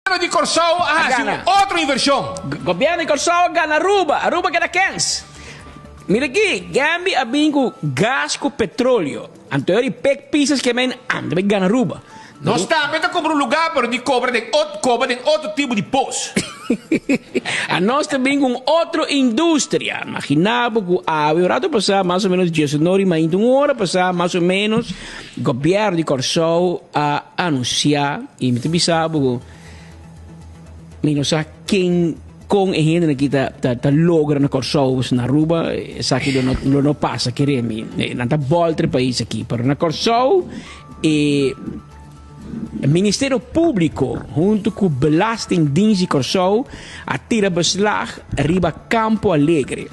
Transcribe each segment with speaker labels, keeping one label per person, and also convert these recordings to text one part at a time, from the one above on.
Speaker 1: Gobierno di Corsou a haci un otro inversion. Gobierno di Corsou
Speaker 2: a gana Aruba, Aruba a keda kens. Mira aki, Gambi a bin cu gas cu petroleo, anto e di pek pisas ke men anda bay gana Aruba. Nos tambe ta
Speaker 1: cobra un lugar pero di cobra den coba den otro tipo di post.
Speaker 2: A nos ta bin cu un otro industria. Magina bo cu awe un rato pasa, mas o menos diesonor y mainta un ora pasa, mas o menos, Gobièrnu di Kòrsou a anunsiá, i mi ta bisa bo ku mi no sa ken, kon e hendenan aki ta ta ta logra na Kòrsou pasobra na Aruba esaki lo no lo no pasa kere mi nan ta bòlta di pais aki pero na Kòrsou e Ministerio Públiko huntu ku Belastingdiens di Kòrsou a tira beslag riba Kampo Alegre.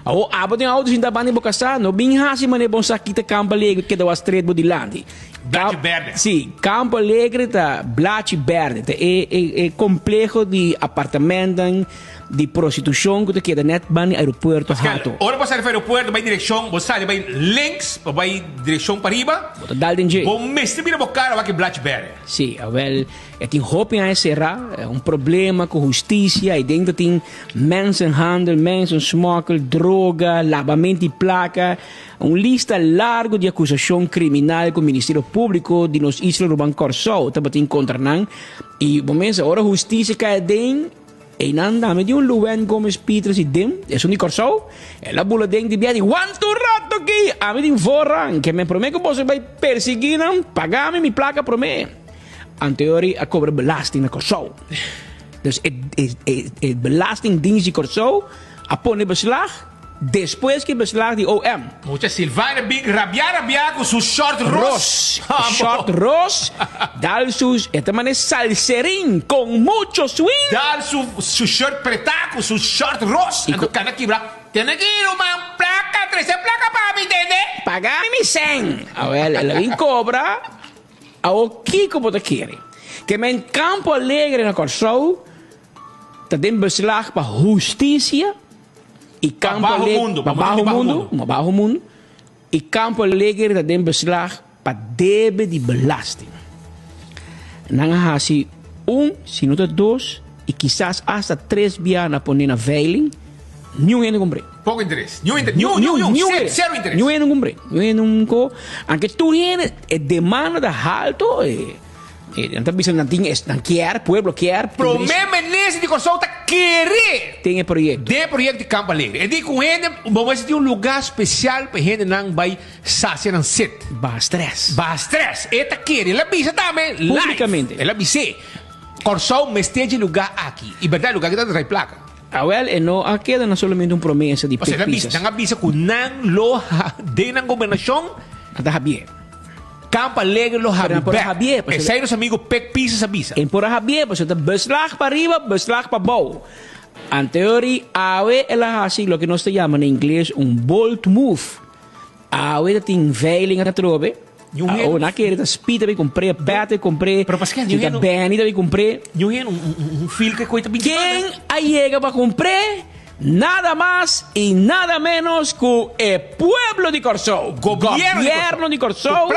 Speaker 2: Awor abo den auto sinta banda bo kasá, no bin hasi mané bon sa kita Campo Alegre keda wa stret bo dilanti. Blachi Cam- Berde.
Speaker 1: Sí, Campo
Speaker 2: Alegre ta Blachi Berde, ta e, e, e complejo di apartamentan, di prostitución ku ta keda net banda aeropuerto Pascal, hato. ora bo sali for aeropuerto,
Speaker 1: bay direccion, bo sali bay links, bo bay direccion pariba, Bo ta dal den dje. bo
Speaker 2: mester mira bo cara
Speaker 1: wak e Blachi Berde. Sí, awel.
Speaker 2: E tin hopi aña será, un problema ku hustisia, ei dentro tin mensenhandel, mensensmokkel, droga, labamento di plaka, un lista largo di akusashon kriminal ku Ministerio Públiko di nos isla Ruban Kòrsou tabatin kontra nan, i bo mester ora hustisia kai aden, Einan dame di un Luwen Gomes Pietres i Dim, esun di Kòrsou, el a bula den di biaha di Wanta un rat aki! Ami tin voorrang ke men promé ku boso bai persiguí nan, pagá mi mi plaka promé. Anteori a kobra belasting na Kòrsou. Dus e belastingdiens di Kòrsou a pone beslag. Despues ki beslag di OM. Mucha Silvana
Speaker 1: bin rabiá rabiá ku su short ros. Ros, short ros,
Speaker 2: dal su, e ta mane salserin kon mucho swing. Dal su su
Speaker 1: shirt pretá ku su short ros, anto kana kibrá. Tene ki yu man plaka, trese plaka pa mi tende. Pagá mi mi sèn.
Speaker 2: Awèl el a bin kobra, awo kiko bo ta kere? Ke men Campo Alegre na Kòrsou Ta den beslag pa hustisia i kampo alegre pa baho mundu, i kampo alegre ta den beslag pa debe di belasting. Nan a hasi un, si no ta dos, i kisas asta tres biaha na poné na veiling, niun hende kumpr'é. Poko interes. Niun interes.
Speaker 1: Niun, niun, niun. Niun hende. Sero interes. Niun hende kumpr'é.
Speaker 2: Niun hende kumpr'é. Anke tur hende e demanda ta haltu. E nan ta bisa nan tin es nan kier, pueblo kier. Prome minister
Speaker 1: di Kòrsou ta kere den e proyekto. Den e
Speaker 2: proyekto di Kamp
Speaker 1: Alegre. E di ku hende bo mester tin un lugá spesial pa e hendenan bai sasia nan set. Baha strès.
Speaker 2: Baha strès. E ta
Speaker 1: kere. El a bisa tambe live. Públikamente. El a
Speaker 2: bis'é,
Speaker 1: Kòrsou mester dje lugá aki. I bèrdat e lugá aki ta trai plaka. Awèl e no
Speaker 2: a keda na solamente un promesa di pek pisas. Nan a bisa ku
Speaker 1: nan lo den nan gobernashon. A ta habié.
Speaker 2: Kamp
Speaker 1: Alegre lo habi bèk, esei nos amigu Pek Pieces a bisa. E por a habié pasobra ta
Speaker 2: bus lag pariba, bus lag pabou. Anteori awe el a hasi loke nos ta yama na ingles un bold move. Awe ta tin veiling atrobe, awe na kere ta Speed ta bin kumpr'é, Pat ta bin kumpr'é, si ta Benny
Speaker 1: ta bin
Speaker 2: kumpr'é.
Speaker 1: Ken a yega
Speaker 2: pa kumpr'é? Nada mas y nada menos cu e pueblo di Corsou, gobierno di Corsou,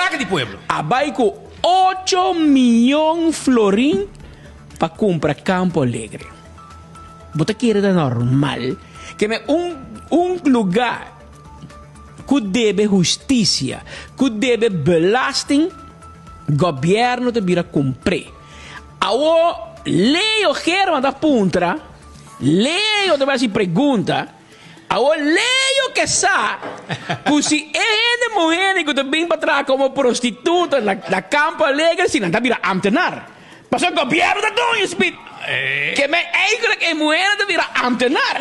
Speaker 2: a
Speaker 1: bay cu
Speaker 2: ocho miyon florin pa cumpra Campo Alegre. Bo ta kere ta normal ke me un un luga cu debe husticia, cu debe belasting, gobierno ta bira cumpr'e. Awo ley o herman ta puntra. Leo ta basi pregunta, awor Leo ke sa ku si e hende muhende ku ta bin pa traha komo prostituta na Kampo Alegre si nan ta bira amtenar. Pasobra gobièrnu ta duna e spit ke men eindelijk e muhende ta bira amtenar.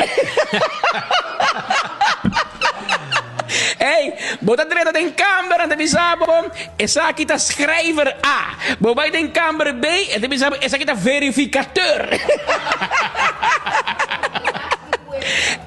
Speaker 2: Ey, bo ta drenta den kambera, nan ta bisa bo. Esaki ta schrijver A. Bo bai den kamer B, e ta bisa bo esaki ta verificateur.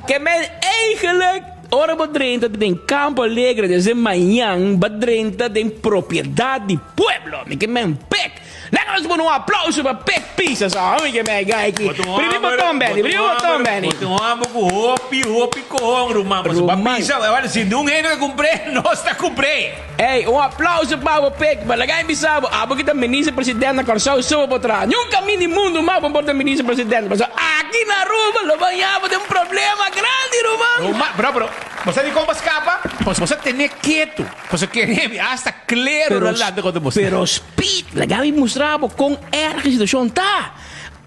Speaker 2: Ke men eigenlijk ora bo drenta ta den Campo Alegre desde mañan, bo a drenta den propiedad di pueblo. Mi ke men pek. Laga nos pone un aplauso pa Pek Pisa so, ami ke mei ga aki. Primi boton beni, primi boton beni. Bo ta un homber ku hopi,
Speaker 1: hopi kohon ruman, pasobra bo a bisa bo, e wak si niun hende ta kumpré, nos ta kumpré. Ey, un aplauso
Speaker 2: pa bo Pek, ma laga mi bisa bo, abo ke ta Minister President na Kòrsou so bo por traha. Niun kamin di mundu mas bo por ta Minister President, pasobra aki na Aruba lo ban yapo den problema grandi ruman. Ruman, bro, bro, bo sa di
Speaker 1: kon bo a skapa? Bo sa tené ketu. Pasobra ke ri mi asta klero na lanta kontra boso. Pero Speed, la
Speaker 2: Gaby mustra bo kon erg e situashon ta.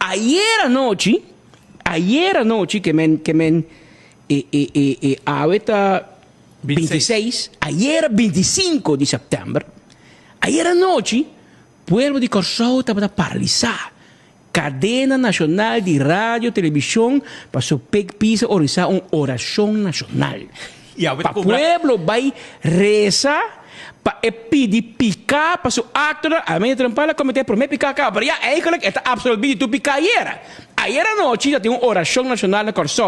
Speaker 2: Ayer anochi, ayer anochi ke men, ke men e, e, e, e awe ta binti i seis, ayer a binti i sinku di sèptèmber, ayer anochi pueblo di Kòrsou tabata paralisá. Kadena nashonal di radio, telebishon pa su pek pisa orisá un orashon nashonal pa pueblo bai resa pa e pidi piká pa su aktonan. Amen di trampal a kometé e promé piká kabra ya. Eigelik e ta apsolbí di tur piká ayera. Ayera anochi ta tin un orashon nashonal na Kòrsou.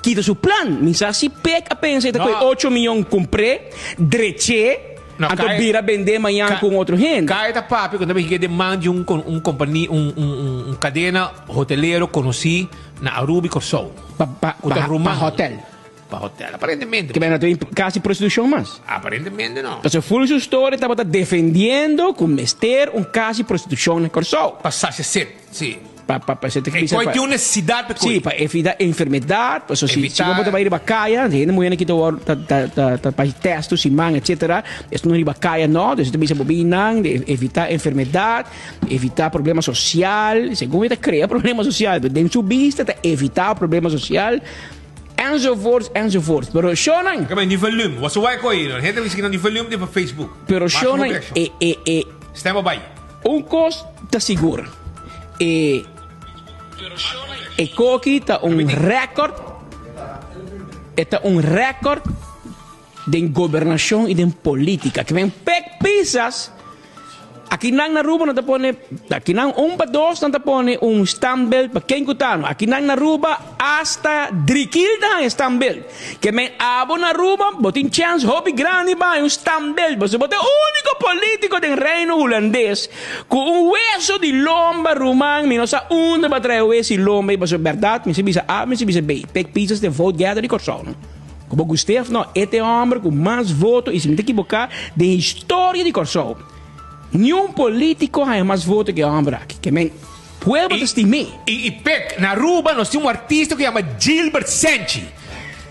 Speaker 2: Ki ta su plan? Mi sa si Pek a pensa e ta koe ocho miyon kumpr'é, drech'é, anto bira bend'é mañan ku un otro hende. Ka e ta papia ku ta bini
Speaker 1: ku e deman di un un kompania, un un un kadena hotelero konosí na Aruba i Kòrsou. Pa pa Ku ta ruman.
Speaker 2: pa hòtèl. Pa hòtèl,
Speaker 1: aparentemente. Kibera ta bini kasi
Speaker 2: prostitushon mas. Aparentemente no. Pasobra
Speaker 1: fulgi su storia
Speaker 2: tabata defendiendo ku mester un kasi prostitushon na Kòrsou. Pa sasha set.
Speaker 1: Sí. Pa, pa, pa, se te E
Speaker 2: bisa koi pa, tin un
Speaker 1: necesidad pe koi. sí, pa evita
Speaker 2: enfermedad, paso si, si Evitar. bobo ta bai riba kaya, si hende muhena ki ta wor, ta, ta, ta, ta bai testo, si man, etcetera, es no riba kaya no, dus e ta bisa bobi nan, di evita enfermedad, di evita problema social, segun e ta crea problema social, pero den su bista ta evita problema social, enzovoorts, enzovoorts, pero shonan, Oke, men di volume. What's
Speaker 1: why koi? Hende ta bisa kinan di volume di pa Facebook. pero Mas shonan, mugrecho.
Speaker 2: e, e, e, Stem
Speaker 1: a bai. Un kos
Speaker 2: ta sigur, e e koki ta un rèkòrt, e ta un rèkòrt den gobernashon i den polítika. Kiben pek pisas akinan na Aruba no ta pone, akinan un pa dos nan ta pone un standbelt pa ken ku ta no. Akinan na Aruba Asta drikilda han e standbeeld. Ke men abo na Aruba, bo tin chèns hopi grandi bai un standbeeld pasobra bo ta e úniko polítiko den Reino Hulandes ku un hueso di lomba ruman. Mi no sa unda bo a trae hues i lomba ei pasobra bèrdat mi si bisa A mi si bisa B. Pek pieces den vote gather di Kòrsou no. Ku bo guste òf no, e ta e hòmber ku mas voto i si mi ta ekiboká den historia di Kòrsou niun polítiko haña mas voto ke e hòmber aki. Ke men. Huelba ta stimé. I i pek, na
Speaker 1: Aruba nos tin un artista ku yama Gilbert Senchi.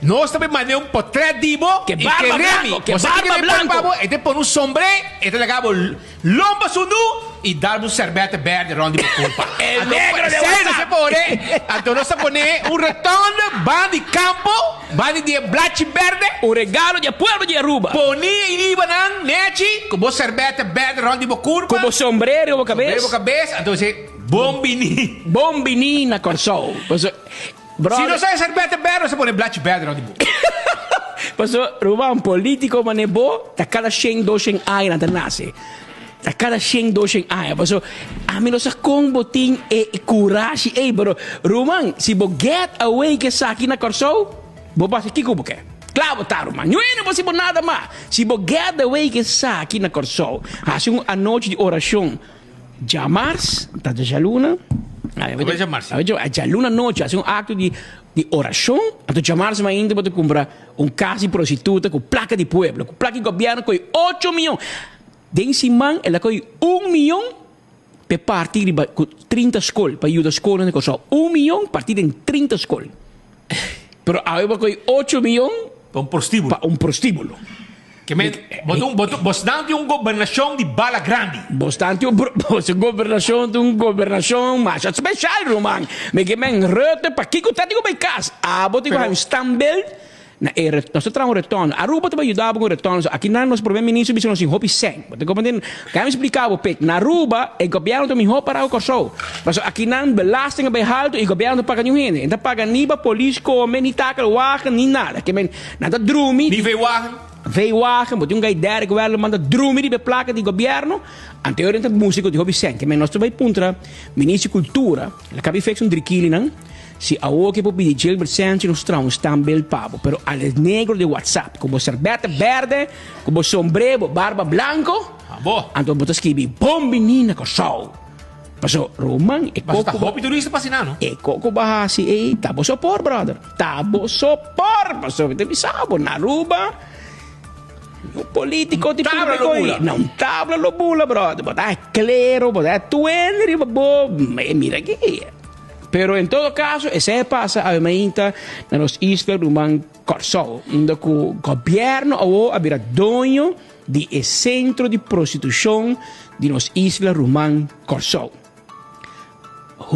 Speaker 1: Nos ta por mane un potrèt di bo i kere mi.
Speaker 2: Bo sa kiko e ta pone pa bo? E ta pone un sombré,
Speaker 1: e ta laga bo lon pa su nu i dar bo un sèrbèt bèrdè rònt di bo kulpa. Anto esei
Speaker 2: nos ta pone,
Speaker 1: anto nos ta pone un retònde ban di kampo. Bani di e blachi berde, un regalo di e pueblo di
Speaker 2: Aruba. Poni e inibanan
Speaker 1: nechi ku bo serbèt berde rònt di bo kurpa. Ku bo sombrero riba bo kabes.
Speaker 2: Sombrero riba bo kabes, anto bo se,
Speaker 1: Bon bini. Bon bini
Speaker 2: na Kòrsou. Paso,
Speaker 1: bròder. Si no sa e serbèt berde, no sa pone e blachi berde rònt di bo. Paso,
Speaker 2: ruman, polítiko manera bo ta kada shen, dos shen aña nan ta nase. Ta cada shen dos shen aña paso ami no sa con bo tin e curashi ey pero ruman si bo get away cu esaki na Corsou bo bas aki cu bo ke cla bo ta ruman nuey no basi bo nada mas si bo get away cu esaki na Corsou haci un anochi di oracion djamars ta djaluna djaluna anochi haci un acto di di oracion anto djamars mi ainda bo ta cumbra un cas di prostituta cu placa di pueblo cu placa di gobierno cu e ocho miyon. Den siman el a kohe un miyon p'e parti riba ku trinta skol pa yuda skolnan den Kòrsou. Un miyon parti den trinta skol. Pero awe bo a kohe ocho miyon Pa un prostíbulo. pa
Speaker 1: un prostíbulo. Ke men, bo ta un, bo ta, bosnan tin un gobernashon di bala grandi. Bosnan tin un pro,
Speaker 2: boso gobernashon ta un gobernashon masha speshal, ruman. Mi ke men, Rutte, pakiko ta tin ku bai kas? Abo tin ku haña un standbeeld Na e re, nos ta traha un retorno. Aruba ta por yuda bo ku un retorno. So akina nos prome ministro bisa nos tin hopi sèn. Bo ta komprende? Kaya mi splika bo p'e. Na Aruba e gobièrnu ta mihó pará ku Kòrsou. Pasobra akinan belasting a bai haltu i gobièrnu no ta paga niun hende. E no ta paga ni pa polis kome, ni takel wagen, ni nada. Ke men, nan ta drumi. Ni veiwagen?
Speaker 1: Veiwagen. Bo tin
Speaker 2: un gai Derrick Welderman ta drumi riba e plaka di gobièrnu. Anterior nan ta músiko tin hopi sèn. Ke men, nos ta bai puntra ministro di kultura, la kabi feks un drikilinan. Si awor ke por pidi Gilbert Sánchez nos trouwens tambel pa bo, pero al e negro de WhatsApp ku bo serbete berde, ku bo sombre, bo barba blanko, Abo. anto bo ta skibi bon bini na Kòrsou. Paso Roman e Mas kok ta ku bo hopi turista pa
Speaker 1: Sinan, no?
Speaker 2: e
Speaker 1: kok ku bo hasi
Speaker 2: ei ta boso por brother, ta boso por paso mi ta bisa bo na Aruba un polítiko di tabla lo bula. na un
Speaker 1: tabla lo
Speaker 2: bula brother, bo ta klero, bo ta tuende riba bo, mira aki. Pero en todo caso esey a pasa awe mainta na nos isla ruman Corsou, unda cu gobierno awor a bira doño di e centro di prostitucion di nos isla ruman Corsou.